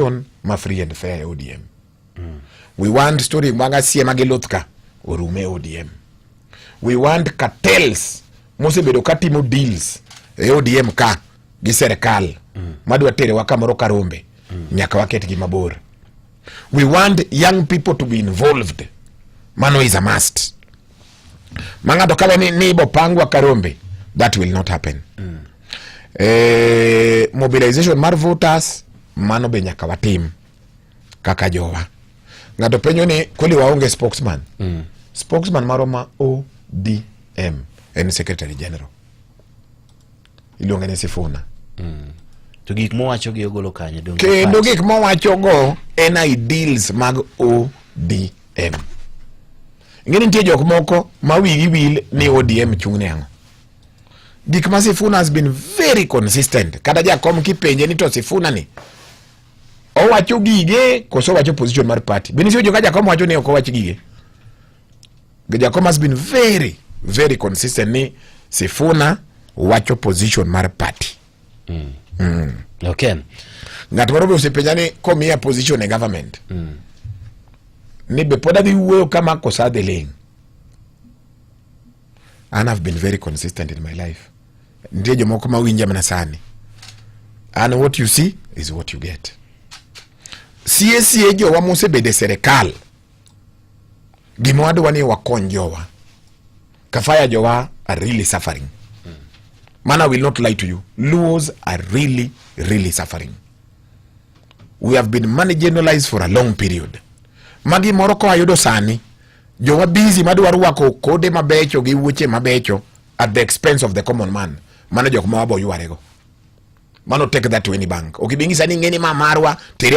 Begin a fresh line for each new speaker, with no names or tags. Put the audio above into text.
election ma free and fair e ODM. Mm. We want story mag asie ma giluth ka orume e ODM. We want cartels mosebedo ka timo deals e ODM ka gi serikal mm. madwa terewa kamoro karombe mm. nyaka waketgi mabor. We want young people to be involved. Mano is a must. Mang'ato kawe ni, ni ibopangwa karombe that will not happen. Mm. E, mobilization mar voters mano be nyaka watim kaka jowa. Ng'ato penjo ni kweli waonge spokesman. Mm. Spokesman marwa ma ODM en secretary general. Iluonge ni Sifuna. Mm. To
gik mowacho gi ogolo kanye donge. Kendo gik mowacho
go en ideals mag ODM. Ng'e nitie jok moko ma wigi wil ni ODM chung'ne ang'o. Gik ma Sifuna has been very consistent. Kata jakom kipenje ni to Sifuna ni owacho gige koso owacho position mar party. Bende sio joka jakom wacho ni ok owach gige. Jakom has been very very consistent ni Sifuna wacho position mar party. Mm. Mm.
Okay.
Ng'at moro be osepenja ni komiya position e government. Mm. Ni be pod adhi wuoyo kama kosa adhi ling'. An have been very consistent in my life. Nitie jomoko ma winja mana sani. And what you see is what you get. Sie sie jowa mosebede serikal. Gima wadwa ni wakony jowa. Kafaya jowa are really suffering. Man, I will not lie to you. Luos are really, really suffering. We have been marginalized for a long period. Magi moro koa yudo sani Jowa busy madwa rwako kode mabecho gi wuoche mabecho at the expense of the common man. Mano jok ma waboywarego. Mano take that to any bank. Okibingisa ni ng'eni ma marwa tere